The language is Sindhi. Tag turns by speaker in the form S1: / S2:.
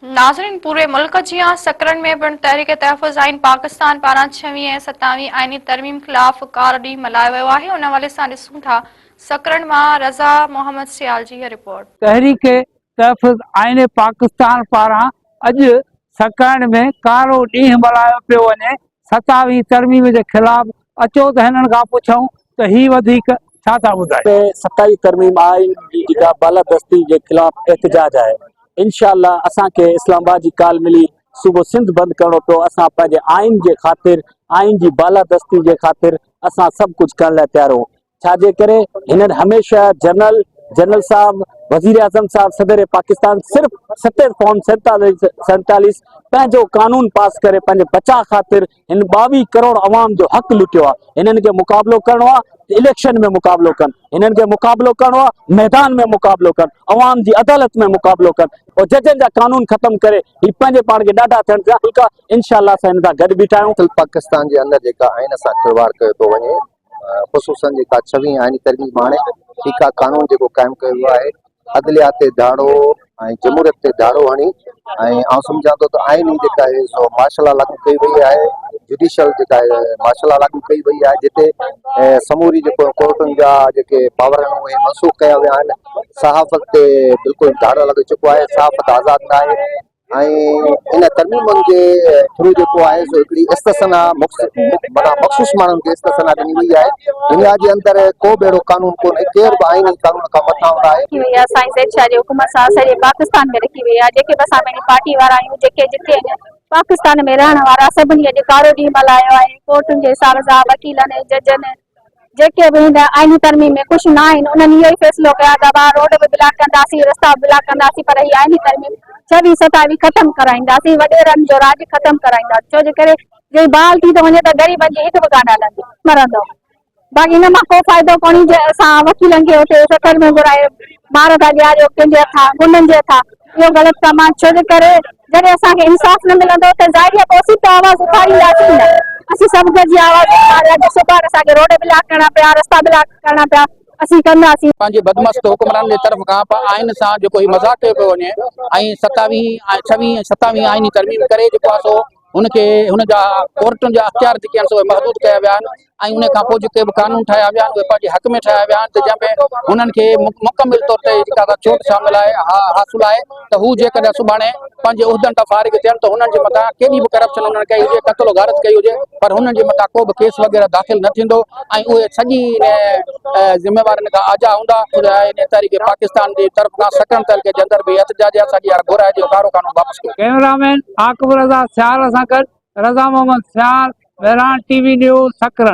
S1: ناظرين پوري ملڪ جيان سڪرنڊ ۾ پڻ تحريڪ تحفظ آئين پاڪستان پاران ڇويهين ۽ ستاويهين آئيني ترميم خلاف ڪارو ڏينهن ملهايو ويو آهي ان حوالي سان ڏسون ٿا سڪرنڊ مان رضا محمد سيال جي هي رپورٽ. تحريڪ
S2: تحفظ آئين پاڪستان پاران اڄ سڪرنڊ ۾ ڪارو ڏينهن ملهايو پيو وڃي ستاوي ترميم جي خلاف اچو ته هنن کان پڇون ته هي وڌيڪ ڇا ٿا ٻڌائين. ته ستاوي ترميم
S3: آئين جي جيڪا بالادستي جي خلاف احتجاج آهي انشاء الله اسان کي اسلام آباد جي ڪال ملي صوبو سنڌ بند ڪرڻو پيو اسان پنهنجي آئين جي خاطر آئين جي بالادستي جي خاطر اسان سڀ ڪجهه ڪرڻ لاء تيار آهيون ڇا جي ڪري هنن هميشه جنرل جنرل صاحب وزير اعظم صاحب صدر پاڪستان صرف ستر فارم سيتاليس سيتاليس پنهنجو قانون پاس ڪري پنهنجي بچاء خاطر هن ٻاويهه ڪروڙ عوام جو حق لٽيو آهي هنن کي مقابلو ڪرڻو آهي اليڪشن ۾ مقابلو ڪن هنن کي مقابلو ڪرڻو آهي ميدان ۾ مقابلو ڪن عوام جي عدالت ۾ مقابلو ڪن اور ججن جا قانون ختم ڪري هي پنهنجي پاڻ کي ڏاڍا ٿيڻ ٿيا ان شاء الله اسان هن سان گڏ بيٺا آهيون پاڪستان جي اندر جيڪا
S4: آئين سان کلواڙ ڪيو ٿو وڃي خصوصن جيڪا ڇوهين آئيني ترميم آڻي فيڪا قانون جيڪو قائم ڪيو ويو آهي عدليات تي ڌاڙو ۽ جمهوريت تي ڌاڙو هڻي ۽ آئون سمجهان ٿو ته آئين ئي جيڪا آهي سو مارشل لا لاڳو ڪئي وئي آهي جڊيشل جيڪا آهي مارشل لا لاڳو ڪئي وئي آهي جتي سموري جيڪو ڪورٽن جا جيڪي پاور آهن اهي منسوخ ڪيا ويا آهن صحافت تي بلڪل ڌاڙو لڳي چڪو آهي صحافت آزاد نه آهي ۽ ان ترميمن جي ٿرو جيڪو آهي سو هڪڙي استثنا معنيٰ مخصوص ماڻهن کي استثنا ڏني وئي آهي دنيا جي اندر ڪو به اهڙو قانون ڪونهي ڪير به آئيني قانون کان مٿان هوند آهي. رکي وئي آهي سائين زيد شاهه جي حڪم
S5: سان سڄي پاڪستان ۾ رکي وئي آهي جيڪي به اسان پنهنجي پارٽي وارا آهيون جيڪي جتي آهن پاڪستان ۾ رهڻ وارا سڀني اڄ ڪارو ڏينهن ملهايو آهي ڪورٽن جي ساز آ وڪيلن ۽ ججن جيڪي به هن آئيني ترميم ۾ خوش نه آهن انهن اهو ئي فيصلو ڪيا ته اها روڊ به بلاڪ ڪنداسين رستا به بلاڪ ڪنداسين پر هي آئيني ترميم ڇويهه ستاويهه ختم ڪرائينداسين وڏيرن جو راڄ ختم ڪرائينداسين ڇو جي ڪري جي بحال ٿي ٿو وڃي ته غريبن جي هڪ به ڪانه هلندي مرندو باقي ان مان ڪو فائدو ڪونهي جي اسان وڪيلن کي اتي سکر ۾ گهرائي مار ٿا ڏياريو ڪنهن جي هٿان غنڊن جي هٿان اهو غلط ڪم آهي ڇو جي ڪري جڏهن اسان کي انصاف نه ملندو ته ظاهري آهي ته اسين ته آواز اٿارينداسين نه اسين سڀ گڏجي آواز اٿاريا جو صبح اسان کي روڊ بلاڪ ڪرڻا پيا رستا بلاڪ ڪرڻا پيا اسين ڪنداسين. پنهنجي بدمست حڪمرانن
S6: جي طرف کان پ آئين سان جيڪو هي مذاق ڪيو پيو وڃي ۽ ستاويهين ۽ ڇويهين ۽ ستاويهين آئيني ترميم ڪري جيڪو آهي سو هن کي هن جا ڪورٽن جا اختيار جيڪي آهن سي محدود ڪيا ويا آهن ۽ ان کانپوء جيڪي به قانون ٺاهيا ويا آهن اهي پنهنجي حق ۾ ٺاهيا ويا آهن ته جنهن ۾ هنن کي مڪمل طور تي جيڪا سا ڇوٽ شامل آهي حاصل آهي ته هو جيڪڏهن سڀاڻي پنهنجي عهدن تان فارغ ٿين ته هنن جي مٿان ڪيڏي به ڪرپشن هنن ڪئي هجي قتل و غارت ڪئي هجي پر هنن جي مٿان ڪو به ڪيس وغيره داخل نه ٿيندو ۽ اهي سڄي ذميوارين کان آجا هوندا تحريڪ پاڪستان جي طرف کان سيڪرنڊ تعلقي جي اندر به احتجاجي احتجاج گهرايجي ڪارو قانون واپس ڪئميرا مين عاقب
S2: رضا سيال سان گڏ Raza Muhammad Sial, Mehran T V news, سڪرن.